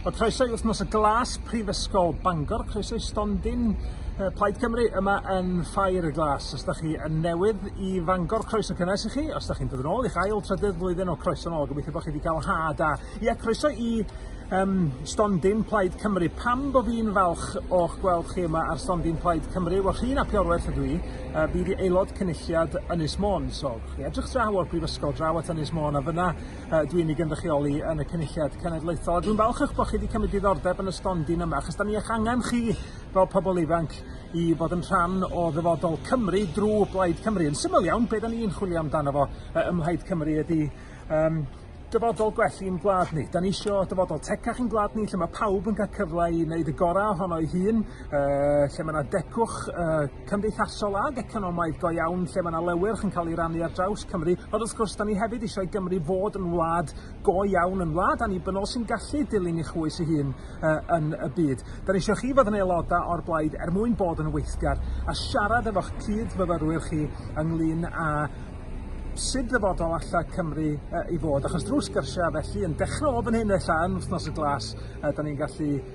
Wel, croeso i wythnos y glas Prifysgol Bangor, croeso i stondin uh, Plaid Cymru yma yn Ffair y Glas. Os da chi yn newydd i Fangor, croeso cynnes i chi. Os da chi'n dod yn ôl i'ch ail trydydd flwyddyn o croeso yn ôl, gobeithio bod chi wedi cael ha da. Ie, croeso i um, stondin Plaid Cymru. Pam bod fi'n falch o'ch gweld chi yma ar stondin Plaid Cymru? Wel, rhi'n api orwerth ydw i. Uh, fi wedi aelod cynulliad Ynys Môn, so chi edrych draw o'r brifysgol, draw at Ynys Môn, a fyna yy dwi'n ei gynrychioli yn y Cynulliad Cenedlaethol a dwi'n falch eich bod chi wedi cymryd diddordeb yn y stondin yma achos da ni eich angen chi fel pobl ifanc i fod yn rhan o ddyfodol Cymru drwy Blaid Cymru. Yn syml iawn, be da ni'n chwilio amdano fo yy ym Mhlaid Cymru ydy um, dyfodol gwell i'n gwlad ni. Da ni eisiau dyfodol tecach i'n gwlad ni lle mae pawb yn cael cyfle i wneud y gorau ohono ei hun yy lle mae 'na degwch yy cymdeithasol ag economaidd go iawn lle mae 'na lewyrch yn cael ei rannu ar draws Cymru ond wrth gwrs da ni hefyd eisiau i Gymru fod yn wlad go iawn yn wlad annibynnol sy'n gallu dilyn ei chwys ei hun yy, yn y byd. Da ni eisiau chi fod yn aelodau o'r blaid er mwyn bod yn weithgar a siarad efo'ch cyd-fyfyrwyr chi ynglyn â sut ddyfodol alla Cymru uh, i fod, achos drwy sgyrsiau felly yn dechrau o fan hyn ella yn wythnos y glas, uh, da ni'n gallu